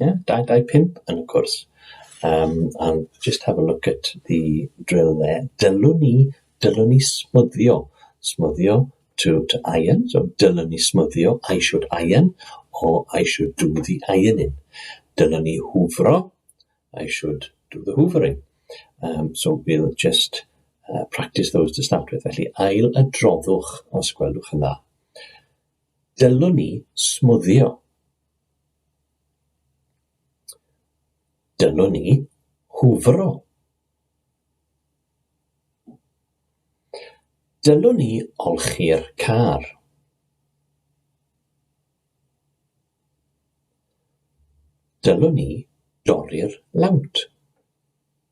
Yeah, 225 yn y cwrs. Um, and just have a look at the drill there. Dylwn ni, dylwn ni smwddio. Smwddio to, to iron, so dylwn ni smwddio, I should iron, or I should do the ironing. Dylwn ni hwfro, I should do the hoovering. Um, so we'll just uh, practice those to start with. Felly, ail y droddwch os gwelwch yn dda. Dylwn ni smwddio. Dyma ni, hwfro. Dyma ni olchi'r car. Dyma ni dorri'r lawnt.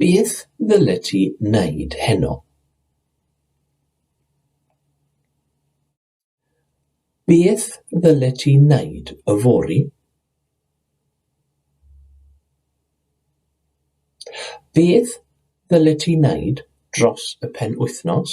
Beth ddylet ti wneud heno? Beth ddylet ti wneud yfory? Beth ddylet ti wneud dros y penwythnos?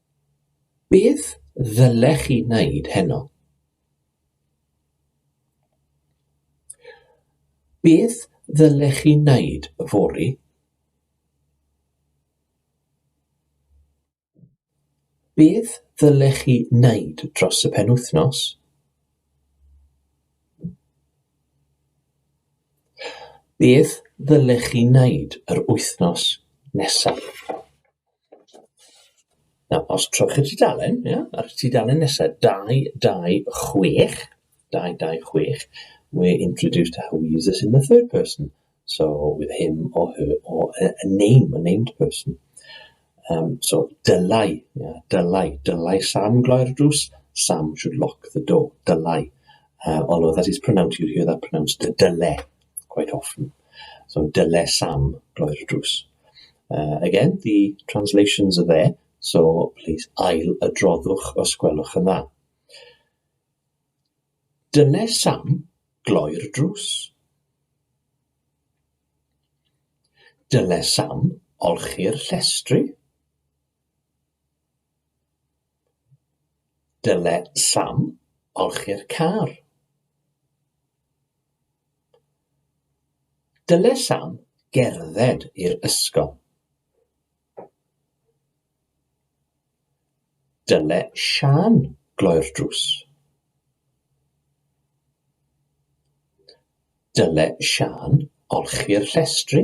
Beth ddylech chi wneud heno? Beth ddylech chi wneud yfory? Beth ddylech chi wneud dros y penwythnos? Beth ddylech chi wneud yr wythnos nesaf? Nawr, os trowch i'r tudalen, ia, a'r tudalen nesa, 226, 226, we're introduced to how we use this in the third person. So, with him or her or a, a name, a named person. Um, so, dylai, ia, dylai, dylai Sam gloi'r drws, Sam should lock the door, dylai. Uh, although that is pronounced, you'll hear that pronounced, dyle, quite often. So dyle Sam gloi'r drws. Uh, again, the translations are there, so please ail y droddwch os gwelwch yn dda. Dyle Sam gloi'r drws. Dyle Sam olchi'r llestri. Dyle Sam olchi'r car. Dyle Sam gerdded i'r ysgol. Dyle Sian gloi'r drws. Dyle Sian olchi'r llestri.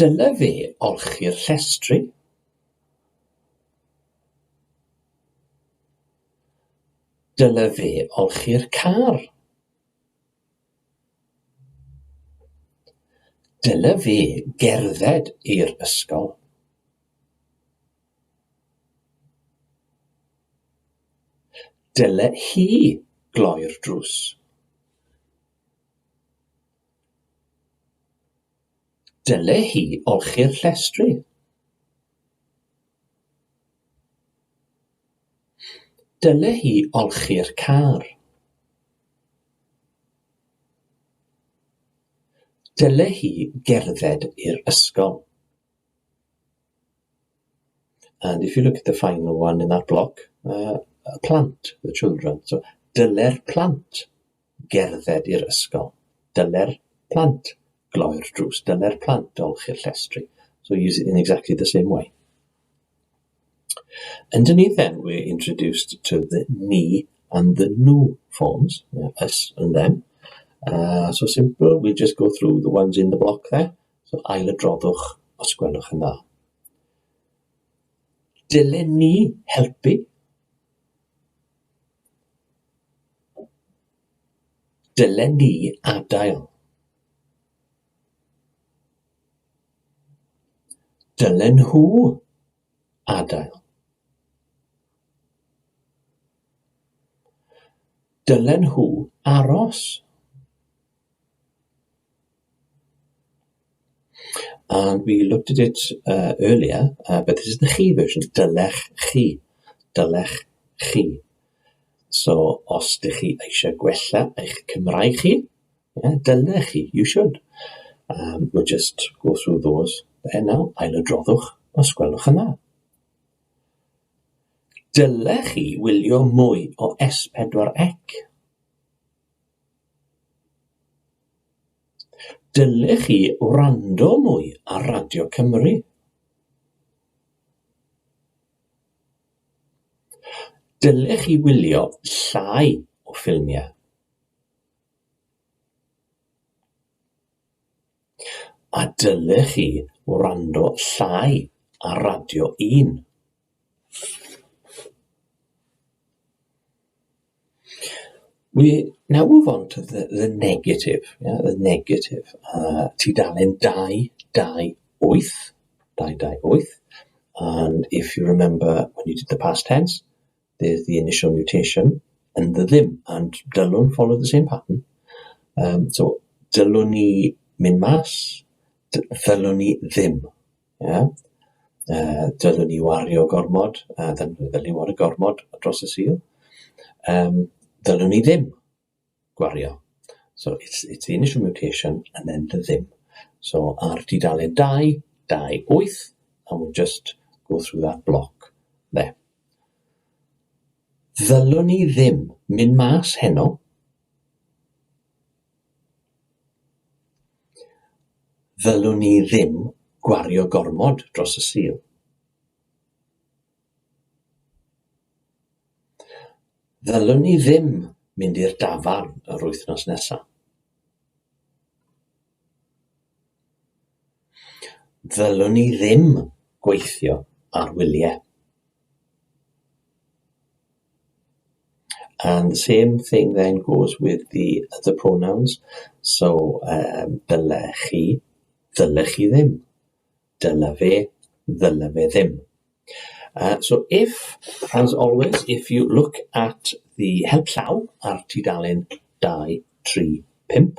Dyle fe olchi'r llestri. Dyle fe olchi'r car. Dyle fe gerdded i'r ysgol. Dyle hi gloi'r drws. Dyle hi olchi'r llestri. Dyle hi olchi'r car. Dyle hi gerdded i'r ysgol. And if you look at the final one in that block, uh, plant, the children. So, dyle'r plant gerdded i'r ysgol. Dyle'r plant gloi'r drws. Dyle'r plant olchi'r llestri. So use it in exactly the same way. Underneath then, we're introduced to the me and the new forms, us and them. Uh, so simple, we'll just go through the ones in the block there. So ail y droddwch, os gwelwch yn dda. Dylen ni helpu Dylen ni adael. Dylen nhw adael. Dylen nhw aros. And we looked at it uh earlier uh but this is the chi version, dylech chi, dylech chi. So os dych chi eisiau gwella eich Cymraeg chi, ie, dylech chi, you should. Um we'll just go through those there now, ailadroddwch os gwelwch yn dda. Dylech chi wylio mwy o S4C. Dylech chi wrando mwy ar Radio Cymru. Dylech chi wylio llai o ffilmiau. A dylech chi wrando llai ar Radio 1. We now move on to the the negative yeah the negative uh tudalen dau dau wyth dau dau wyth and if you remember when you did the past tense there's the initial mutation yn dy ddim and dylwn follow the same pattern um so dylwn i mynd mas d- ddylwn i ddim. Ie, yy dylwn ni wario gormod, a dylwn ni ddylun wario gormod dros y Sul, yym dylwn ni ddim gwario. So it's it's the initial mutation and then the ddim. So ar dudalen 2, 2, 8, a we'll just go through that block there. Ddylwn ni ddim mynd mas heno. Ddylwn ni ddim gwario gormod dros y Sul. Ddylwn ni ddim mynd i'r dafarn yr wythnos nesaf. Ddylwn ni ddim gweithio ar wyliau. And the same thing then goes with the other pronouns, so yym dyle chi, ddyle chi ddim, dyle fe, ddyle fe ddim. Yy so if, as always, if you look at the help llaw ar tudalen 2, 3, 5,